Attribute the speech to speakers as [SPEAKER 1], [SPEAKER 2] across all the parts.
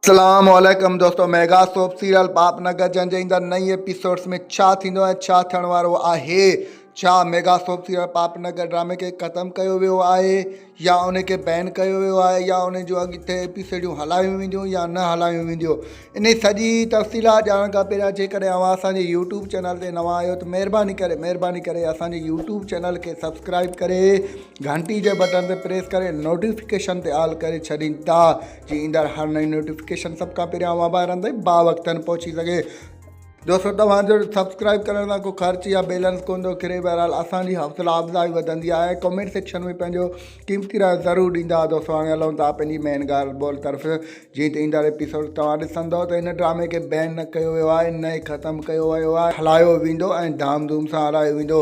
[SPEAKER 1] اسلام عليڪم دوستو mega soap serial Paap Nagar جنهن جي ايندڙ نئين ايپيسوڊس ۾ ڇا ٿيندو ۽ ڇا ٿيڻ وارو آهي ڇا mega soap serial Paap Nagar ڊرامي کي ختم ڪيو ويو آهي يا ان کي بين ڪيو ويو آهي يا ان جون اڳتي ايپيسوڊون هلايون وينديون يا نه هلايون وينديون ان سڄي تفصيلات ڄاڻڻ کان پهريان جيڪڏهن اوهان اسانجي يوٽيوب چينل تي نوان آهيو ته مهرباني ڪري مهرباني ڪري اسانجي يوٽيوب چينل کي سبسڪرائب ڪري گهنٽي جي بٽن تي پريس ڪري نوٽيفڪيشن تي آل ڪري ڇڏين ٿا جيئن ايندڙ هر نئين نوٽيفڪيشن سڀ کان پهريان اوهان ڀائرن تائين با وقتن پهچي سگهي. دوستو توهان جو سبسڪرائب ڪرڻ سان ڪو خرچ يا بيلنس ڪون ٿو ڪري بهرحال اسان جي حوصلا افزائي وڌندي آهي ۽ ڪمينٽ سيڪشن ۾ پنهنجو قيمتي رايو ضرور ڏيندا دوستو هاڻي هلون ٿا پنهنجي مين ڳالهه ٻولهه طرف جيئن ته ايندڙ ايپيسوڊ توهان ڏسندو ته هن ڊرامي کي بين نه ڪيو ويو آهي نه ئي ختم ڪيو ويو آهي هلايو ويندو ۽ ڌام ڌوم سان هلايو ويندو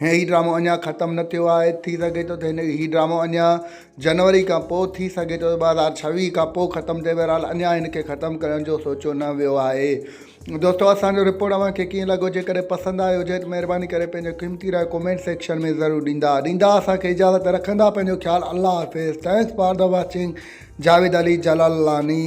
[SPEAKER 1] هي ڊرامو اڃان ختم نه ٿيو آهي ٿي سگهي ٿو ته هن هي ڊرامو اڃا جنوري کان پوء ٿي سگهي ٿو ٻ هزار ڇويهه کان پوء ختم ٿئي بهرحال اڃا هن کي ختم ڪرڻ جو سوچيو نه ويو آهي دوستو اسانجو رپورٽ اوهان کي ڪيئن لڳو جيڪڏهن پسند آيو هجي ته مهرباني ڪري پنهنجو قيمتي راء ڪمينٽ سيڪشن ۾ ضرور ڏيندا ڏيندا اسانکي اجازت رکندا پنهنجو خيال الله حافظ thanks for the watching Javed Ali Jalalani